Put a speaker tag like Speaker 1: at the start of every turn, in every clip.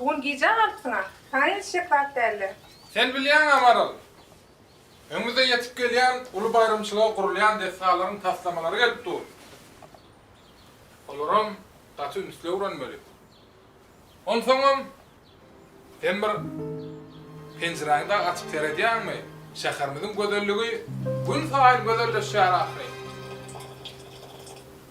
Speaker 1: Bu gün gijä galypsyň-a. Saňa hiç şeklat däldi. Sen bilýäň-ä, Maral. Öňümizde ýetip gelýän uly baýramçylyga gurulýan desgalaryň taslamalary gelip dur. Olaram gaty ünsli öwrenmeli. Onsoňam, sen bir penjiräňi-de açyp seredýäňmi? Şäherimiziň gözelligi günsaýyn gözelleşýär ahyry.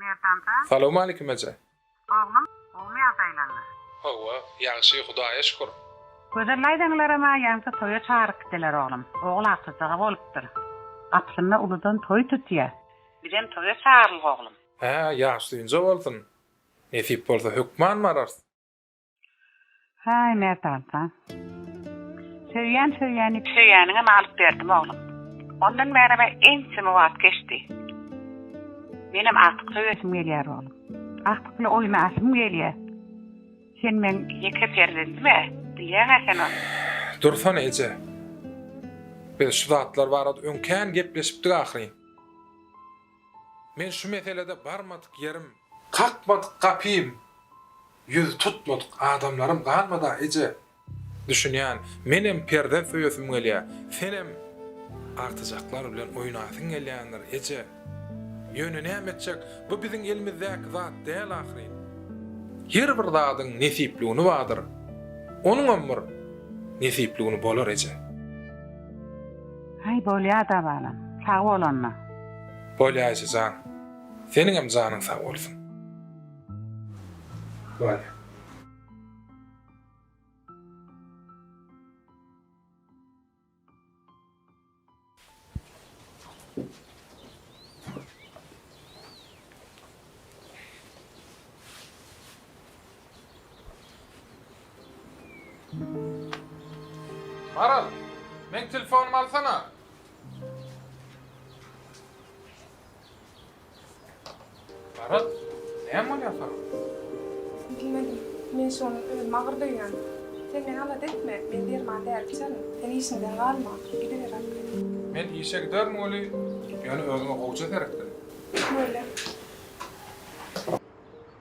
Speaker 1: Merdanjan. Salowmalikim eje. Oglum, gowmy ýagdaýlaňyz? Hawa, ýagşy, Hudaýa şükür. Gözel daýzaňlaram-a ýaňsa toýa çagyryp gitdiler oglum. Ogul artyjygy bolupdyr. Gapysynda uludan toý tutýa. Bizem toýa çagyrylgy oglum. Hä, ýaşly inje bolsun. Nesip bolsa hökman bararys. Haý Merdanjan. Söýýän söýýäni. Söýýäniňem alyp berdim oglum. Ondan bärebe ençeme wagt geçdi. Menem artyk söýesim gelýär oglum. Artykly oýna asym gelýär. Sen meň ýeke perzendimä, bilýäň-ä sen ony. Dursana eje. Biz şu zatlar barada öň kän gepleşipdik ahyryn. Men şu meselede barmadyk ýerim. Kakmadyk gapym. Ýüz tutmadyk adamlarym galmady-a, eje. Düşünýän, menem perzent söýesim gelýär. Senem artyjaklar bilen oýnasyň gelýändir, eje. Ýöne näme etjek, bu biziň elimizdäki zat däl ahyryn. Her bir zadyň nesipligüni bardyr. Onuňam bir nesipligüni bolar, eje. Haý bolýada balam. Sag bol onda. Bolýa eje jan. Seniňem janyň sag bolsun. Bolýa. Maral, meň telefonymy alsana. Maral, näme bolýar saňa? Bilmedim. Men şony özüm agyr duýýan. Sen meni alat etme, men derman däl içerin. Sen işiňden galma, gidiber arkaýyn. Men işe giderin weli, ýöne özüňe gowja seretgin. Böle.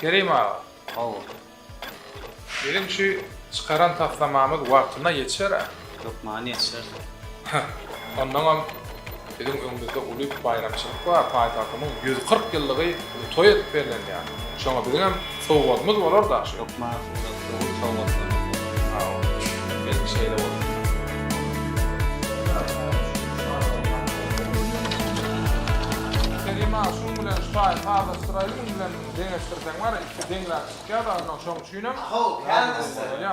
Speaker 1: Kerim aga. Hawa. Biziň şu çykaran taslamamyz wagtyna ýetişer-ä? Hökman ýetişer. Onnoňam biziň öňümizde uly baýramçylyk bar, paýtagtymyň ýüz kyrk ýyllygy toý edip bellenýär. Şoňa biziňem. Sowgadymyz bolar daş ökma surat dogry sowgatlaryňyz bolar sag boluň belki şeýle bolsa. Kerim aga şuň bilen şaý sazlaşdyraýly muň bilen deňeşdirseň bar iki deňläp çykýa dagyna şoň üçinem. Ahaw kän bolýa.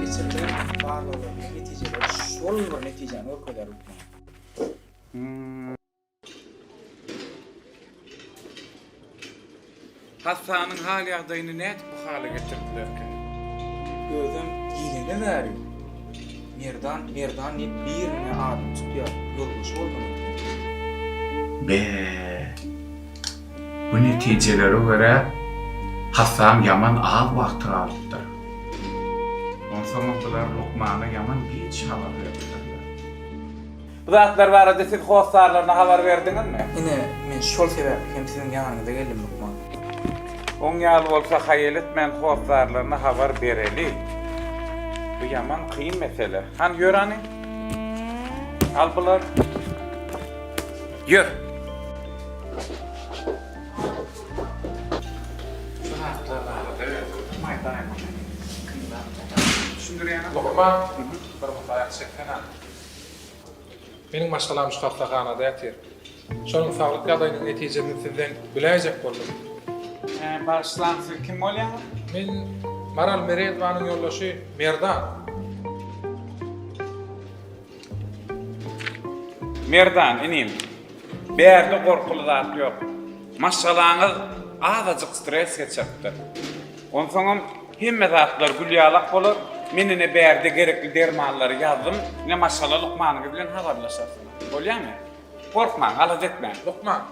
Speaker 1: Geçirilen barlaglaryň netijeleri şol bir netijäni görkezýär hökman. Hassanyň hal-ýagdaýyny nädip bu hala getirdilerkä? Özem diýlene bäri Merdan, Merdan diýip birine adyny tutýar, ýoldaşy bolmaly. Be! Bu netijelere görä, hassam ýaman az wagt galypdyr. Onsoňam bular lukmana ýaman giç habar beripdirler. Bu zatlar barada siz hossarlaryna habar berdiňizmi? Ine, men şol sebäpli hem siziň ýanyňyza geldim, lukman. Oň ýaly bolsa, haýyl etmän hossarlaryna habar bereli. Bu ýaman kyn mesele. Hany, ýör hany. Al bulary. Ýör! Meniň maşgalam şu hassahanada ýatyr. Şonuň saglyk ýagdaýynyň netijesini sizden biläýjek boldum. Bagyşlaň, siz kim bolýaňyz? Men Maral Merezowanyň ýoldaşy Merdan. Merdan inim, bärde gorkuly zat ýok. Maşgalaňyz azajyk stres geçiripdir. Onsoňam hemme zatlar gülýalak bolar, men ine bärde gerekli dermanlary ýazdym, ine maşgala lukmanyňyz bilen habarlaşarsyňyz. Bolýamy? Gorkmaň, alada etmäň. Lukman,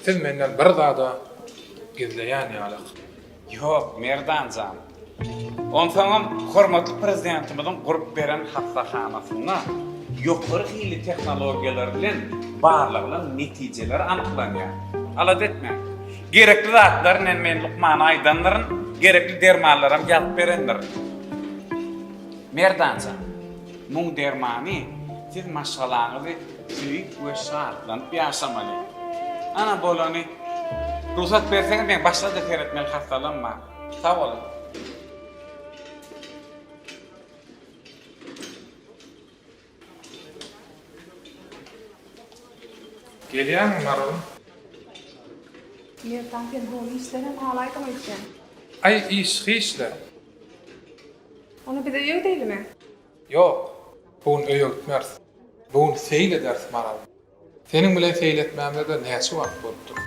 Speaker 1: siz menden bir zada gizleýän ýalyk. Ýok, Merdan jan. Onsoňam hormatly Prezidentimiziň gurup beren hassahanasynda ýokary hilli tehnologiýalar bilen barlagynyň netijeleri anyklanýar. Alada etmäň. Gerekli zatlaryny hem men lukmana aýdandyryn, gerekli dermanlaram ýazyp berendirin. Merdan jan, muň dermany siz maşgalaňyzy Söýüp we şatlanyp ýaşamaly. Ana bolany. Rugsat berseňiz men başgaça seretmeli hassalanma. Sag boluň. Gelýäňmi Maralym? Merdan sen doly işlerem alaýdyň öýtýän. Aý iş hiç-le. Ony bize öýdeýlimi? Ýok, bu gün öýe gitmeris. Bu gün seýil ederis Maral. Seniň bilen seýil etmämize-de näçe wagt bolupdyr?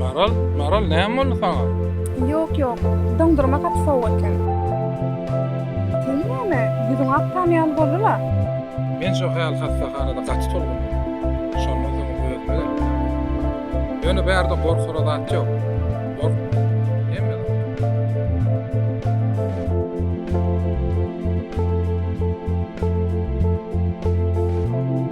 Speaker 1: Maral, Maral näme boldy saňa? Ýok, ýok. Doňdurma gaty sowuk eken. Sen näme, ýüzüň akgan ýaly boldy-la? Men şu häl hassahanada gaty tolgundym. Şondan soň özüme geldim. Ýöne bärde gorkara zat ýok. Gorkma. Hemme zat.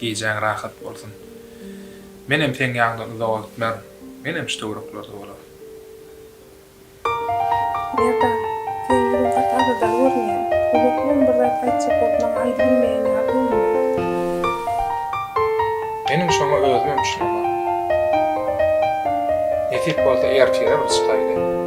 Speaker 1: Gijäň rahat bolsun. Menem seň ýaňdan uzak otmern. Menem şu töwereklerde bolaryn. Merdan. Sen ýüzüň gaty agyrdar görünýä. Uzakdan bir zat aýtjak bolup maňa aýdybilmeýän ýaly görünýär. Meniň şoňa özümem düşünemok. Nesip bolsa ertire bir çykaýly.